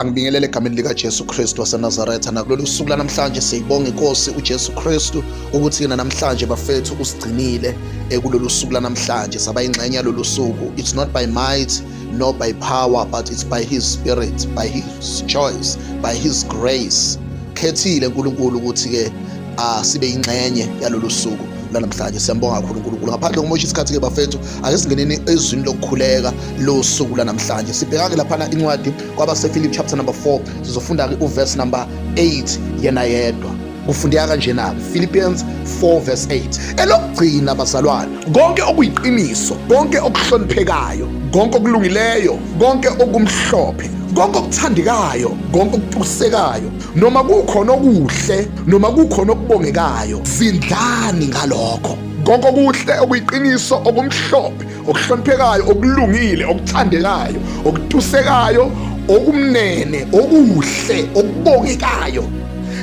Angibingelele egameni likaJesu Kristu waseNazaretha nakulolu suku lanamhlanje siyibonga inkosi uJesu Kristu ukuthi yena namhlanje bafethu usigcinile ekulolu eh, suku lanamhlanje saba ingxenye yalolu suku it's not by might nor by power but it's by his spirit by his choice by his grace khethile uNkulunkulu ukuthi ke ah, sibe ingxenye yalolu suku lanamhlanje siyambonga kakhulu uNkulunkulu ngaphandle kokumosha isikhathi ke bafethu ake singeneni ezwini lokukhuleka losuku lanamhlanje sibhekake laphana incwadi kwabasephilip chapter number 4 sizofunda-ke uverse number 8 yena yedwa kufundeka kanjena philippians 4 verse 8 elokugcina bazalwane konke okuyiqiniso konke okuhloniphekayo konke okulungileyo konke okumhlophe konke okuthandekayo konke okutusekayo noma kukhona okuhle noma kukhona okubongekayo zindlani ngalokho konke okuhle okuyiqiniso okumhlophe okuhloniphekayo okulungile okuthandekayo okutusekayo okumnene okuhle okubongekayo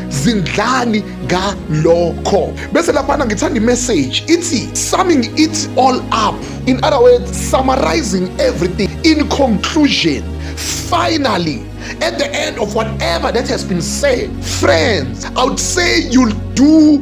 zindlani ngalokho bese laphana ngithanda imessage ithi summing it all up in other words summarizing everything in conclusion finally at the end of whatever that has been said friends i would say you'll do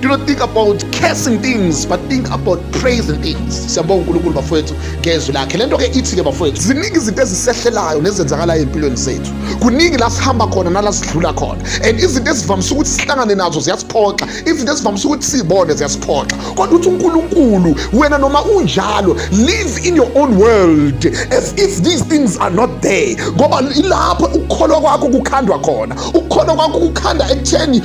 Do not think about cursing things but think about praising things. Siyabonga uNkulunkulu bafowethu ngezwi lakhe. Lento ke ithi ke bafowethu ziningi izinto ezisehlelayo nezenzakalayo empilweni zethu. Kuningi la sihamba khona nala sidlula khona. And izinto ezivamise ukuthi sihlangane nazo ziyasiphoxa. Izinto ezivamise ukuthi sibone ziyasiphoxa. Kodwa uthi uNkulunkulu wena noma unjalo live in your own world as if these things are not there. Ngoba ilapho ukukholwa kwakho kukhandwa khona. Ukukholwa kwakho kukhanda ekutheni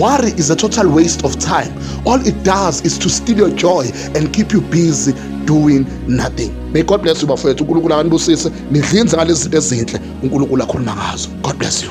Worry is a total waste of time. All it does is to steal your joy and keep you busy doing nothing. May God bless you bafowethu. uNkulunkulu akanibusise. Nidlinze ngalezi zinto ezinhle uNkulunkulu akhuluma ngazo. God bless you.